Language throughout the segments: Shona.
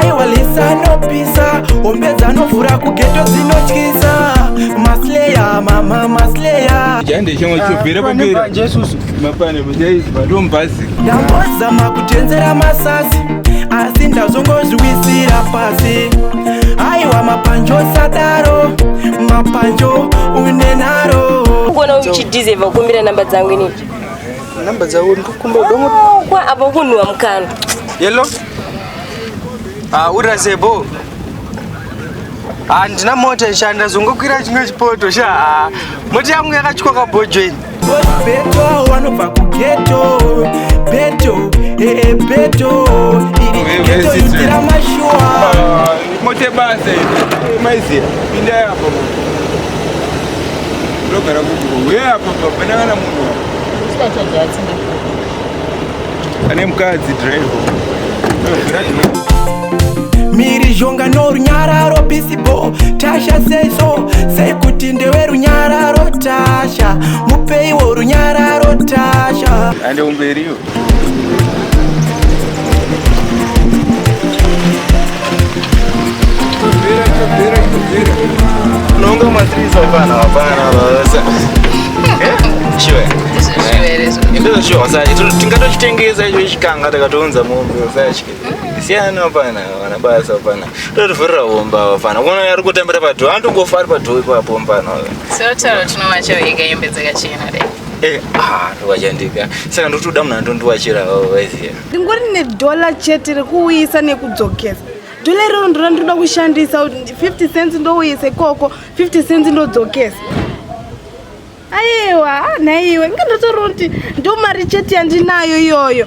aiwa lisa anopisa hombe dzanovhura kugeto dzinotyisa masleya mama masleya ndambozama kutenzera masasi asi ndazongozviwisira pasi aiwa mapanjo sadaro mapanjo unenaro kuona uchidize vakumbira namba dzangu inii Namba dzavo ndikukumba domo. Kwa apo kunwa mkana. Yellow. Ah, ura zebo. Handina ah, mota ishanda zvongokwira chimwe chipoto sha. Ah, mota yangu yakatyiwa kabhojo ini. Beto wanobva kugeto. Beto, eh, eh beto. Iri geto itira mashuwa. Ah, mote base. Eh, Maizi, pinda hapo. Lokara kuku. Wewe hapo baba, nangana munhu. Ane mukadzi driver. mhirizhonga norunyararo pisibo tasha seiso sekuti ndewe runyararo tasha mupeiwo runyararo tasha ande umberiyo Nunca uma atriz vai para nada, para nada. Chiwe. Ndizo chiwe wasaje. Tingatochitengeza icho chikanga takatounza mombe wasaje. Siyana hapana, wana basa hapana. Totovhurira homba hapana. Kuona yari kutambira padho, antongofa ari padho ipapo hapana. Sotaro tinowacho ega yembedzeka chena dai. Eh, ah, ndovachandika saka ndotoda munhu andondiwachira vaiziva ndingori nedhola chete rekuuyisa nekudzokesa dhola iroro ndora ndinoda kushandisa 50 cents ndouyisa ikoko 50 cents ndodzokesa aiwa ah, nhaiwe inga ndotoriwo kuti ndomari chete yandinayo iyoyo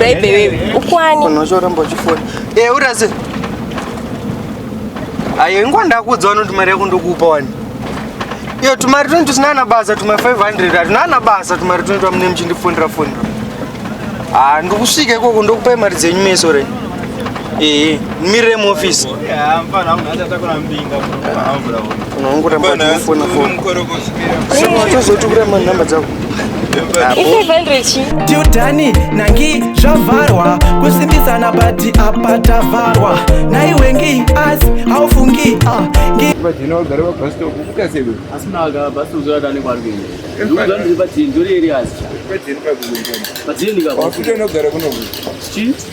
Baby wewe ukwani? Unochoramba uchifona. Eh, urase. Ayo ingwa ndakuudza vanoti mari yako ndokupa wani. Iyo tumari 20 tusinana basa tuma 500 atunana basa tumari 20 amune muchindifonera fonera. Ah, ndokusvika ikoko ndokupai mari dzenyu meso renyu. Eh, mire mu office. Yeah, I'm fine. I'm not going to be in the room. Unaongora mbona phone phone. Sema watozotukira ma number dzako. tiudhani nangi zvavharwa kusimbisana bati apa tavharwa naiwengi as haufungi ngi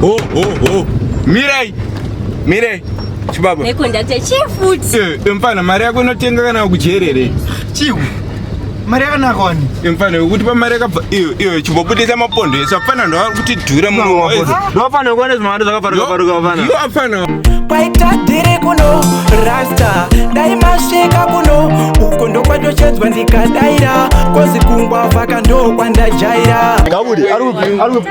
Ho ho ho. Mirai. Mirai. Chibaba. Nekondakta chifuti. Eh, eh, mfana mari yako inotenga kana kujerere. Chiku. Mari yakanaka wani. Eh, mfana wekuti pa mari yakabva iyo iyo chibobudisa mapondo esa mfana ndo ari kuti dura mu wayo. Ndo mfana kuona zvimari zvakaparuka paruka mfana. Yo mfana. Kwaita dire kuno rasta dai masvika kuno uko ndokwatochedzwa ndikadaira kozi kungwa vaka ndokwandajaira. Gabude ari ari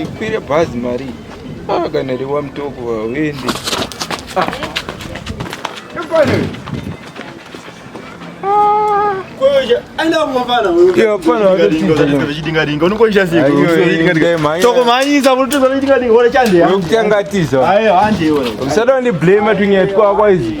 ikwire bhazi mari ah, kana riwa mutoko hauendi ah. usada ndiblame tunyaya twakwa izvi